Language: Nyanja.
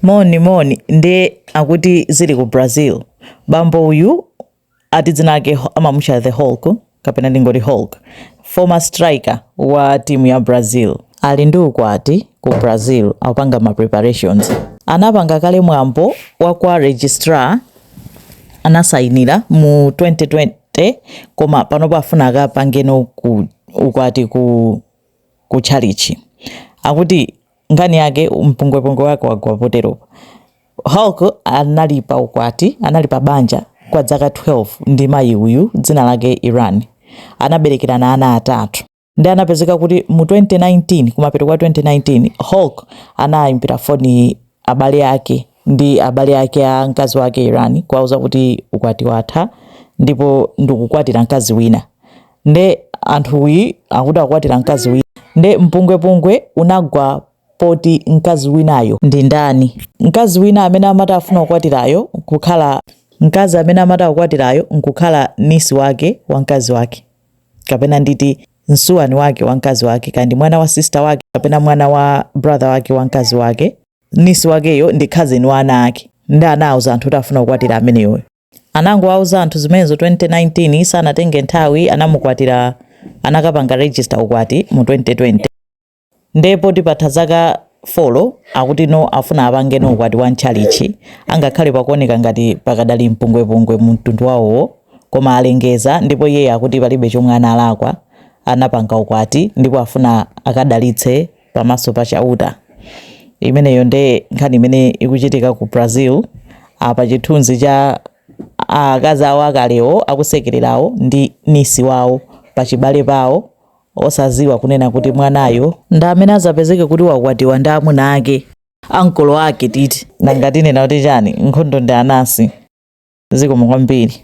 Moni moni nde akuti zili ku Brazil bambo uyu ati dzina lake amamutcha the Hulk kapena ndingoti Hulk former striker wa team ya Brazil ali ndi ukwati ku Brazil akupanga ma preparations anapanga kale mwambo wa kwa registrar anasainira mu 2020 koma panopa afuna akapangeno ukwati ku tchalitchi akuti nkhani yake mpungwepungwe wake wagwa poteropo hulk anali pa ukwati anali pa banja kwa dzaka 12 ndi mayi uyu dzina lake iran anaberekerana ana atatu nde anapezeka kuti mu 2019 kumapeto kwa 2019 hulk anayimbira foni abale ake ndi abale ake a mkazi wake Iran kuwauza kuti ukwati watha ndipo ndikukwatira mkazi wina nde anthuwi akuti akukwatira mkazi wina nde mpungwepungwe unagwa poti mkazi winayo ndi ndani mkazi wina amene amati afuna kukwatirayo nkukhala mkazi amene amati akukwatirayo nkukhala nisi wake wa mkazi wake kapena nditi msuwani wake wa mkazi wake kaya ndi mwana wa sister wake kapena mwana wa brother wake wa mkazi wake Nisi wakeyo ndi cousin wa ana ake nde anauza anthu kuti afuna kukwatira ameneyoyo. Anangowauza anthu zimenezo 2019 sanatenge nthawi anamukwatira anakapanga register ukwati mu 2020. Nde poti patha zaka folo akuti no afuna apangeno ukwati wa m'tchalitchi angakhale pakuoneka ngati pakadali mpungwepungwe mu mtundu wawowo koma alengeza ndipo iyeyo akuti palibe chomwe analakwa anapanga ukwati ndipo afuna akadalitse pamaso pa Chauta. Imeneyo nde nkhani imene ikuchitika ku Brazil. Apa chithunzi cha akazi awo akalewo akusekererawo ndi nisi wawo pachibale pawo osaziwa kunena kuti mwanayo ndi amene azapezeke kuti wakwatiwa ndi amuna ake ankolo ake titi nanga tinena kuti chani nkhondo ndi anasi zikomo kwambiri